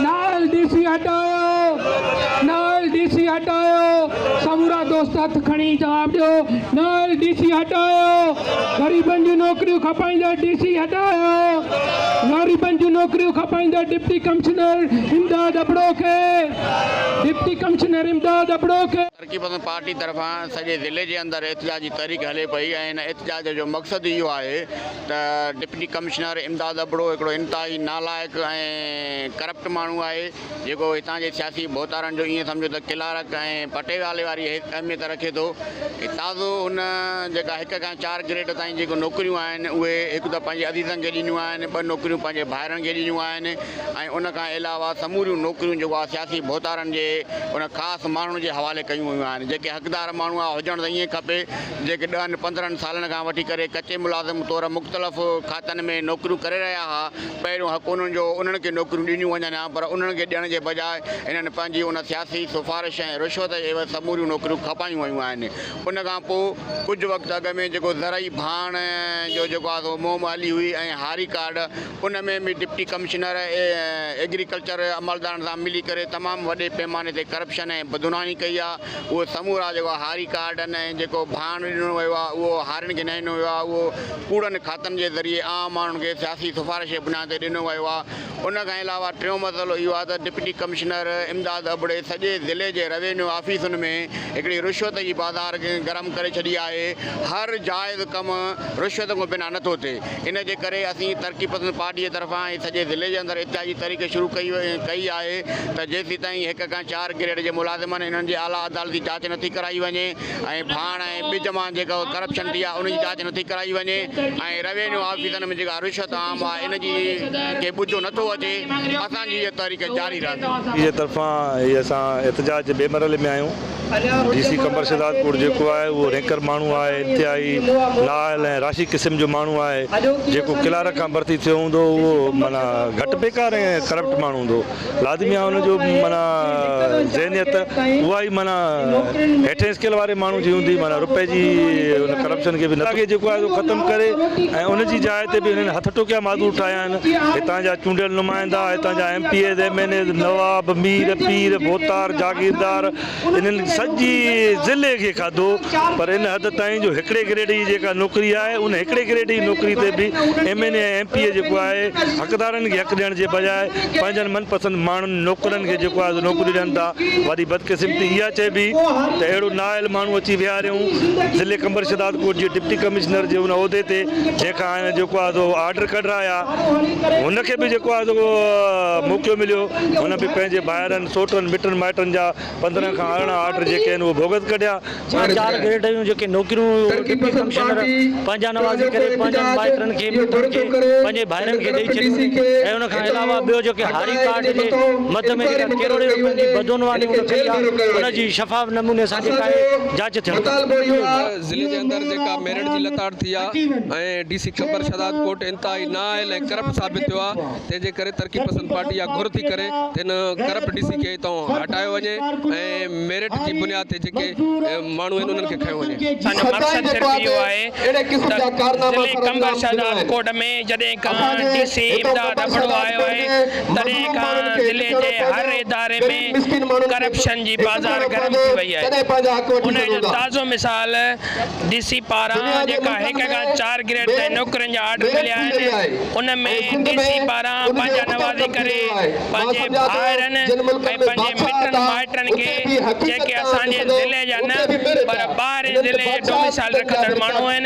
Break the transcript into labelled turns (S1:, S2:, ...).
S1: نااهل D C هٽايو نااهل ڊي سي هٽايو سمورا دوست هٿ کڻي جواب ڏيو نااهل ڊي سي هٽايو غريبن جون نوڪريون کپائيندڙ ڊي سي هٽايو غريبن جون نوڪريون کپائيندڙ ڊپٽي ڪمشنر امداد ابڙو کي ڊپٽي ڪمشنر امداد ابڙو کي ترقي پسند پارٽي
S2: طرفان سڄي ضلعي جي اندر احتجاج جي تحريڪ هلي پئي ۽ ان احتجاج جو مقصد ئي اهو آهي ته ڊپٽي ڪمشنر امداد ابڙو هڪڙو انتهائي نالائق ۽ ڪرپٽ ماڻهو آهي جيڪو هتان جي سياسي ڀوتارن جو ايئن سمجهو ته ڪلارڪ ۽ پٽيوالي واري اهميت رکي ٿو تازو هن جيڪا هڪ کان چار گريڊ تائين جيڪو نوڪريون آهن اهي هڪ ته پنهنجي عزيزن کي ڏنيون آهن ٻه نوڪريون پنهنجي ڀائرن کي ڏنيون آهن ۽ ان کان علاوه سموريون نوڪريون جيڪو آ سياسي ڀوتارن جي ان خاص ماڻهن جي حوالي ڪيون ويون آهن جيڪي حقدار ماڻهو آ هجڻ ته ائين کپي جيڪي ڏهن پندرهن سالن کان وٺي ڪري ڪچي ملازم طور مختلف کاتن ۾ نوڪريون ڪري رهيا ها پهريون حق انهن جو انهن کي نوڪريون ڏنيون وڃن ها پر انهن کي ڏيڻ جي بجاء هنن پنهنجي ان سياسي سفارش ۽ رشوت جي عيوض سموريون نوڪريون کپايون ويون آهن ان کان پو ڪجهه وقت اڳ ۾ جيڪو زرعي ڀاڻ جو جيڪو آ سو مهم هلي هئي ۽ هاري ڪارڊ ان ۾ به ڊپٽي ڪمشنر ايگريڪلچر عملدارن سان ملي ڪري تمام وڏي پيماني تي ڪرپشن ۽ بدعنواني ڪئي آ اهي سمورا جيڪو هاري ڪارڊن ۽ جيڪو ڀاڻ ڏنو ويو آ اهو هارين کي نه ڏنو ويو آ اهو ڪوڙن کاتن جي ذريعي عام ماڻهن کي سياسي سفارش جي بنياد تي ڏنو ويو آ ان کان علاوه ٽيون مسئلو اهو آ ته ڊپٽي ڪمشنر امداد ابڙي سڄي ضلعي جي روينيو آفيسن ۾ هڪڙي رشوت جي بازار گرم ڪري ڇڏي آهي هر جائز ڪم رشوت کان بنا نٿو ٿئي. ان جي ڪري اسين ترقي پسند پارٽي جي طرفان ۽ سڄي ضلعي جي اندر احتجاجي تحريڪ شروع ڪئي ڪئي آهي ته جيسيتائين هڪ کان چار گريڊ جي ملازمن انهن جي اعليٰ عدالتي جاچ نٿي ڪرائي وڃي ۽ ڀاڻ ۽ ٻج مان جيڪا ڪرپشن ٿي آهي ان جي جاچ نٿي ڪرائي وڃي ۽ روينيو آفيسن ۾ جيڪا رشوت عام آهي ان جي کي ٻجهو نٿو اچي اسان جي هيء تحريڪ جاري رهندي. جي طرفان هي
S3: اسان احتجاج جي ٻئي مرحلي ۾ آهيون. ڊي سي قمبر شھداد پور جيڪو آھي اھو رينڪر ماڻھو آھي انتھائي نااھل ۽ راشي قسم جو ماڻھو آھي جيڪو ڪلارڪ کان ڀرتي ٿيو ھوندو اھو معنيٰ گھٽ پيڪار ۽ ڪرپٽ ماڻھو ھوندو لازمي آھي ان جو معنيٰ ذھنيت اھا ئي معنيٰ ھيٺين اسڪيل واري ماڻھو جي ھوندي معنيٰ رپئي جي ان ڪرپشن کي به جيڪو آھي سو ختم ڪري ۽ ان جي جاء تي به ھنن ھٿ ٽوڪيا معذور ٺاھيا آھن. هتان جا چونڊيل نمائندا، هتان جا M P As, M N As, نواب، مير، پير، ڀوتار، جاگيردار انهن سڄي ضلعي کي کاڌو پر ان حد تائين جو هڪڙي گريڊ جي جيڪا نوڪري آهي ان هڪڙي گريڊ جي نوڪري تي به M N A ۽ M P A جيڪو آهي حقدارن کي حق ڏيڻ جي بجاء پنهنجن من پسند ماڻهن نوڪرن کي جيڪو آهي سو نوڪري ڏين ٿا وڏي بدقسمتي اها چئبي ته اهڙو نااهل ماڻهو اچي ويهاريون ضلعي قمبر شهدادڪوٽ جي ڊپٽي ڪمشنر جي ان عهدي تي جنهن کان ۽ جيڪو آهي سو آرڊر ڪڍ رايا هن کي به جيڪو آهي سو موقعو مليو هن به پنهنجي ڀائرن سوٽن مٽن مائٽن جا پندرهن کان ارڙهن آرڊر جيڪي آهن اهي بوگس ڪڍيا ڇا چار گريڊ
S4: جون جيڪي نوڪريون ڊپٽي ڪمشنر پنهنجا نوازي ڪري پنهنجن مائٽن کي مٽن کي پنهنجي ڀائرن کي ڏئي ڇڏيون ۽ ان کان علاوه ٻيو جيڪي هاري ڪارڊ جي مد ۾ جيڪا ڪروڙين روپين جي بدعنواني هن ڪئي آهي ان جي شفاف نموني سان جيڪا آهي جاچ ٿيڻ گهرجي. ضلعي
S5: جي اندر جيڪا ميرٽ جي لتاڙ ٿي آهي ۽ D C Qambar Shahdadkot انتهائي نااهل ۽ ڪرپٽ ثابت ٿيو آهي تنهن جي ڪري ترقي پسند پارٽي اها گهر ٿي ڪري ته ان ڪرپٽ ڊي سي کي اتان هٽايو وڃي ۽ ميرٽ جي بنياد تي جيڪي ماڻهو آهن انهن کي کنيو وڃي. اسان جو مقصد صرف
S6: اهو آهي ته ضلعي قمبر شهداد ڪوٽ ۾ جڏهن کان ڊي سي امداد ابڙو آيو آهي تڏهن کان ضلعي جي هر اداري ۾ ڪرپشن جي بازار گرم ٿي وئي آهي. تڏهن پنهنجا حق وٺي سگهون ٿا. انهيء جو تازو مثال ڊي سي پاران جيڪا هڪ کان چار گريڊ تائين نوڪرين جا آرڊر مليا آهن، ان ۾ ڊي سي پاران پنهنجا نوازي ڪري پنهنجي ڀائرن ۽ پنهنجي مٽن مائٽن کي جيڪي اسان جي ضلعي جا نه پر ٻاهرين ضلعي جي ڊوميسائيل رکندڙ ماڻهو آهن،